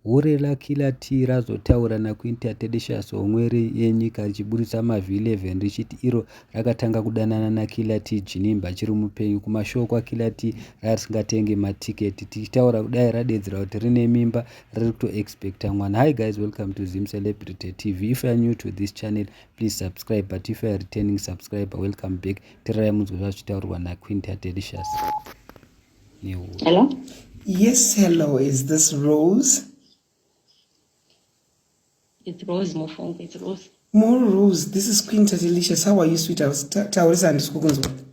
Hure raKilati razotaura naQuinta Tedicius homweri yenyika richiburitsa mavhi 11 richiti iro rakatanga kudanana naKilati Jinimba achiri mupenyu. Kumashow kwaKilati ranga risingatenge matiketi. Tichitaura kudai radedzera kuti rine mimba riri kuto expecta mwana. Hi guys welcome to Zim Celebrity TV. If you are new to this channel please subscribe but if you are returning subscriber welcome back. Tirarai munzwe zvazvichitaurwa naQuinta Tedicious. Hello? Yes, hello. Is this Rose? It's Rose, Mofongo. It's Rose. More Rose. This is Queen Tatilicious. How are you, sweet? I was Taurisa and Skukunzwa.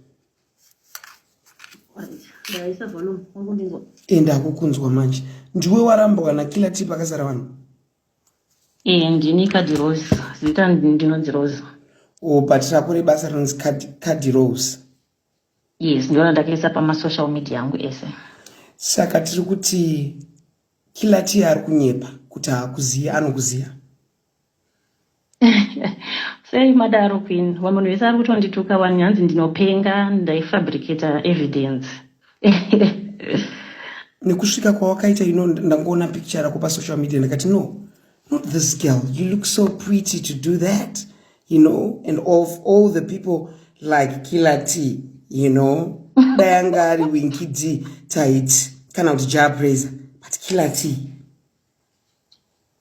enda akukunzwa manje ndiwe warambwa nakila tipa akazara vanhu ee ndini kadirose zita ndinonzi rose o oh, but rako rebasa rinonzi kadirose yes ndona ndakaisa pamasocial media angu ese saka tiri kuti kilatiya ari kunyepa kuti haakuziva anokuziva sei madaro queen vamwe munhu vese ari kutondituka wani hanzi ndinopenga ndaifabricata evidence nekusvika kwawakaita ino ndangoona picture rako pasocial media ndakati no not this girl you look so pretty to do that you know and of all the people like killer t you know dayanga ari winki d taiti kana kuti japraiser but killer t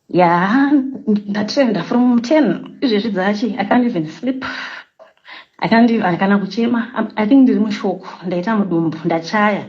ya ndatrenda from ten izvezvi dzachi i can't even sleep i can't even kana kuchema i think ndiri mushoko ndaita mudumbu ndachaya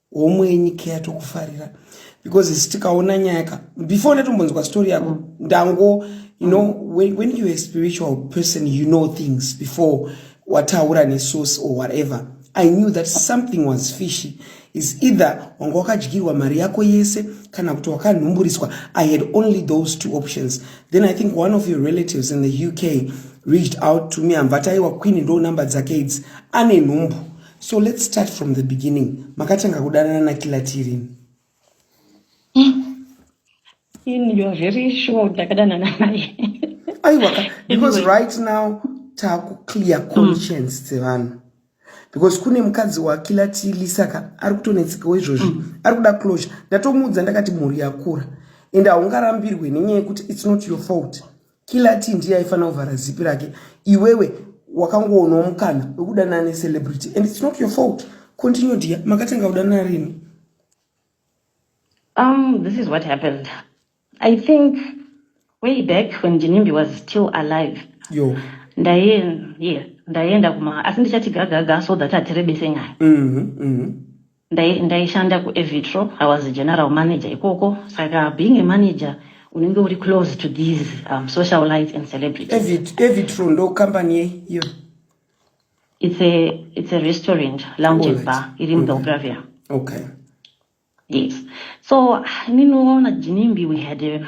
homwe nyika yatokufarira because isi tikaona nyaya ka before ndatombonzwa story yako ndango you know when, when you're a spiritual person you know things before wataura nesource or whatever i knew that something was fishy is either wanga wakadyirwa mari yako yese kana kuti wakanhumburiswa i had only those two options then i think one of your relatives in the uk reached out to me amvataiwa queen ndo number dzake idzi ane nhumbu so let's start from the beginning makatanga kudanana nakilati rini in you're very sure ndakadanana naye aiwaka because right now takuclear mm. conscience dzevanhu mm. because kune mukadzi wakila tili saka ari kutonetsekawo izvozvi mm. ari kuda closure ndatomuudza ndakati mhuri yakura and haungarambirwe nenyaya yekuti its not your fault killer t ndiye aifanira kuvhara zipi rake iwewe wakangoonawo mukana wekudanana necelebrity and its not your fault continue dia makatanga kudanana rini um this is what happened i think way back when jinimbi was still alive yo ndaye ye ndaenda kuma asi ndichati gagaga so that atirebese nyaya mm -hmm, mm -hmm. Ndai, ndaishanda kuevitro i was a general manager ikoko saka being a manager unenge uri close to these um, social lights and celebrities evitro ndo company yei iyo it's a, it's a restaurant lounge and bar iri mubelgravia mm -hmm. okay yes so ninoona jinimbi we had a,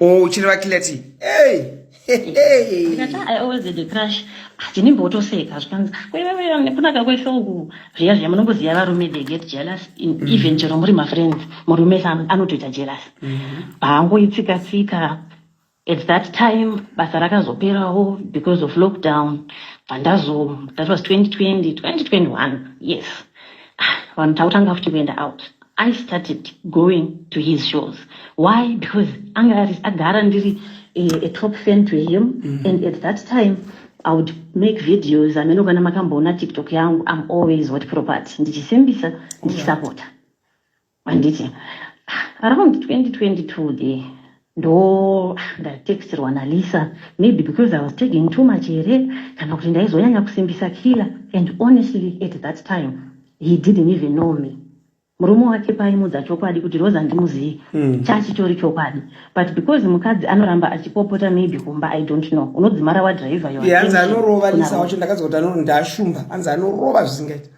Oh, chine vakilati. Hey. I always had a crush. Ndinimbotoseka zvikanzi kwewewe nekunaka kwese uku zviya zviya munongoziva varume they get jealous mm. even chero muri mafriends murume anotoita jealous mm-hmm. haangoitsika tsika at that time basa rakazoperawo because of lockdown pandazo that was 2020 2021 yes ah, vanhu tautanga futi kuenda out I started going to his shows. Why? Because Angaris Agara Ndiri, a, a top fan to him. Mm. And at that time, I would make videos. I mean, kana makamboona TikTok yangu, I'm always what property. Ndichisimbisa, ndichisapota. Anditi, around 2022 there, ndo ndatexterwa naLisa maybe because I was taking too much here kana kuti ndaizonyanya kusimbisa killer and honestly at that time he didn't even know me murume wake paimudza chokwadi kuti rose handimuzivi mm. chachitori chokwadi but because mukadzi anoramba achipopota maybe kumba i don't know unodzimara wadriver yoanzi anorova lisa wacho ndakanzi kuti anoti ndashumba anzi anorova zvisingaita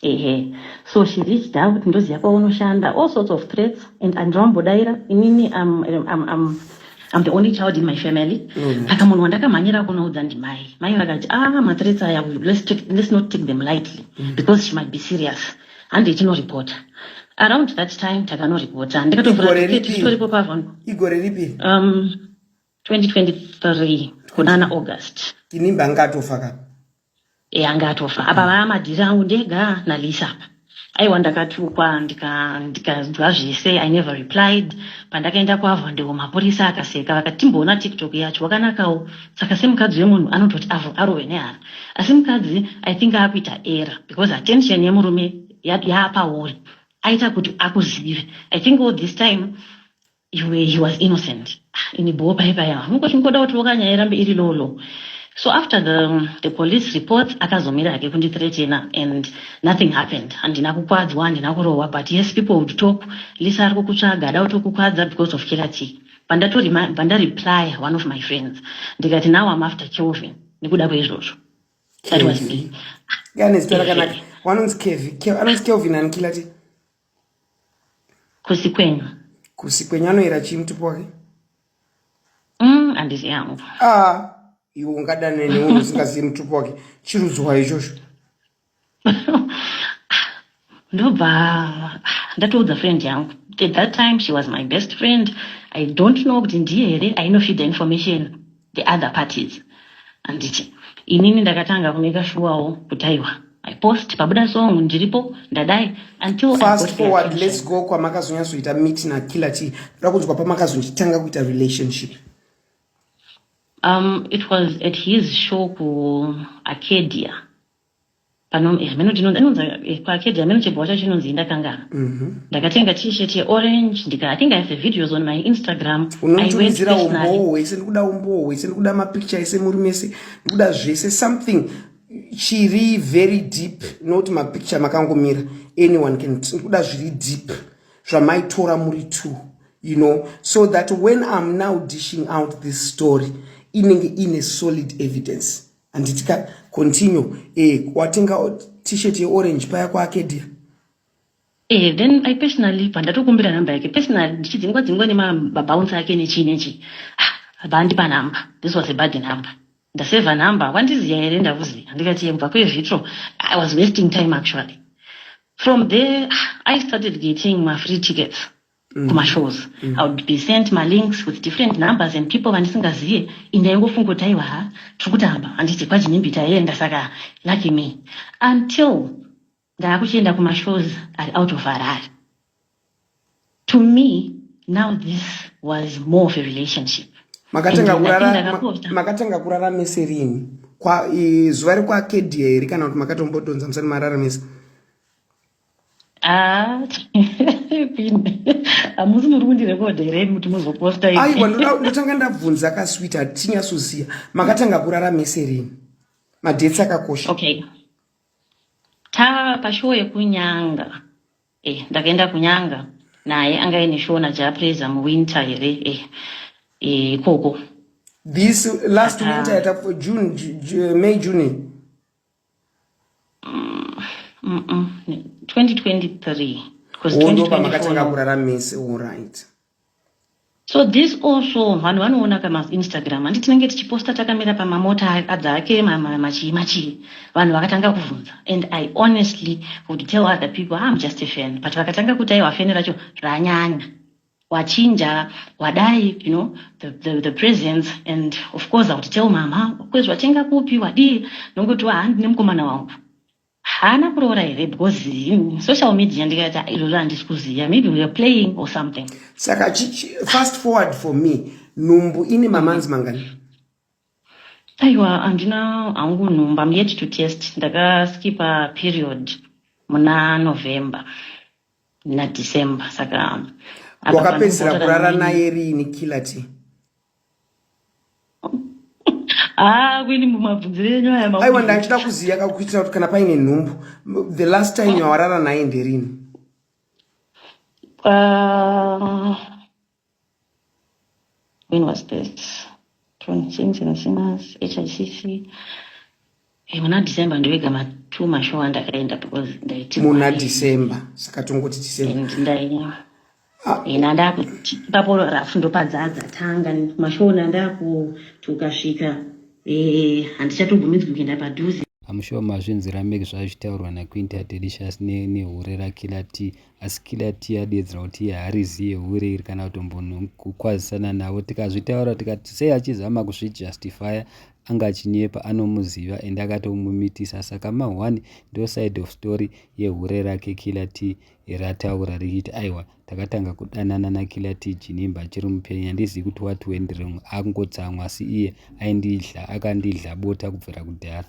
Ehe so she reached out ndoziva kwaunoshanda all sorts of threats and andirambodaira inini am, am, am, am the only child in my family mm. aka munhu wandakamhanyira kunoudza ndimai mai vakati ah mathreats aya let's, take, let's not take them lightly mm. because she might be serious handi itinoripota around that time takanoripota ndikatotoripo pavon igore ripi um, 2023 kunana august inimba ngatofa kapa yange atofa apa vaa madhiri angu ndega nalisa apa aiwa ndakatukwa ndikanzwa zvese i never replied pandakaenda kuavo ndewo mapurisa akaseka vakati timboona tiktok yacho wakanakawo saka semukadzi wemunhu anototi avo arove nehara asi mukadzi i think akuita era because attention yemurume yaapauri aita kuti akuzive i think all this time iwe he was innocent ah, ini boo pai paya hangu chingoda kuti loka nyaya irambe iri low low so after the, the police reports akazomira hake kundithreatena and nothing happened handina kukwadzwa handina kurohwa but yes people would talk lisa ari kukutsvaga ada kutokukwadza because of killer tea pandatoribandariplya one of my friends ndikati now am after kelvin nekuda kweizvozvo that was me ah, anonzi kelvin anikila tea Kusi kwenyu. Kusi kwenyu anoera chii mutupo wake? Mm, andizi yangu. Ah, iwe ungadane nemunhu usingazivi mutupo wake. Chirudzwa ichocho. Ndobva ndatoudza friend yangu. At that time she was my best friend. I don't know kuti ndiye here ainofida information. the other parties handiti inini ndakatanga kune kashuwawo kuti aiwa i post pabuda song ndiripo ndadai until fast forward let's go kwamakazonyatsoita meet na killer t ndoda kunzwa pamakazonditanga kuita relationship um it was at his show ku arcadia pano eh, hameno chinonzi anonzi eh, pakedhi hameno chibhowa chacho chinonzi indakangana mhm. ndakatenga t-shirt yeorange ndika i think i have videos on my instagram unotumidzira umbowo wese ndikuda umbowo wese ndikuda mapicture ese muri mese ndikuda zvese something chiri very deep not mapicture makangomira anyone can ndikuda zviri deep zvamaitora muri two you know so that when i'm now dishing out this story inenge ine solid evidence handiti ka continue eh, watenga t-shirt yeorange paya kwaakedia Eh, then I personally pandatokumbira number yake personally ndichidzingwa dzingwa nemabounce ake nechii nechii ah, vandipa number this was a bad number ndaseva number wandiziya here ndakuziya ndikati yebva kwezvitro i was wasting time actually from there ah, i started getting mafree tickets Mm. kumashows mm. i would be sent malinks with different numbers and people vandisingazive indaingofunga kuti aiwa ha tiri kutamba handiti kwajinimbi taienda saka lucky me until ndaakuchienda kumashows ari out of harare to me now this was more of a relationship makatanga kurara mese rini zuva rekwakedia here kana kuti makatombotonza musani marara mese Ah, hamusi muri kundirekodha here kuti muzoposta iwe? aiwa ndoda- ndotanga ndabvunza kaswit hatinyasoziva makatanga kurara mese rini madhetsi akakosha Okay, ta pashow yekunyanga eh, ndakaenda kunyanga naye anga ine show naJah Prayzah muwinter here eh, eh, ikoko this last winter Aka- yatakufa june Ju- Ju- may june 2023 pamakatanga kurara mese orit so this also vanhu vanoona kamainstagram handi tinenge tichiposta takamira pamamota adza ake machii machii vanhu vakatanga kuvhunza and i honestly would tell other people am ah, just a fan but vakatanga kuti aiwa feni racho ranyanya wachinja wadai you know the, the, the presence and of course i would tell mama kwezvo watenga kupi wadii nongoti wa handi nemukomana wangu haana kuroora here because in social media ndikati ah, iroro handisi kuziva maybe weare playing or something saka fast forward for me nhumbu ine mamanzi mangani aiwa handina hangu nhumbu am yet to test ndakaskipa period muna november nadecember saka wakapedzisira kurara naye riini killer t Ah, kwini mumabvunzire enyu aya ma aiwa ndachida kuziya kakuitira kuti kana paine nhumbu the last time yawarara naye nderini ah, When was this? 26 in Simas, HICC. Eh, muna December ndovega ma two mashow andakaenda because ndaiti muna December saka tongoti December and ndaiva ah. eh, ina ndakuti papo rafu ndopadzadza tanga mashow nandaku tukasvika eh handichatobvumidzwi kuenda padhuze I'm sure mazvinzwira make zvazvitaurwa naQuinta Delicious nehure raKiller T asi kila tea adeedzera kuti iye harizi yehure iri kana kutombokwazisana navo tikazvitaura tikati sei achizama kuzvijustifya anga achinyepa anomuziva and akatomumitisa saka ma one ndo side of story yehure rake kila tea rataura richiti aiwa takatanga kudanana nakila tea jinimba achiri mupenyu handizivi kuti what went wrong akungotsamwa asi iye aindidla akandidla bota kubvira kudhara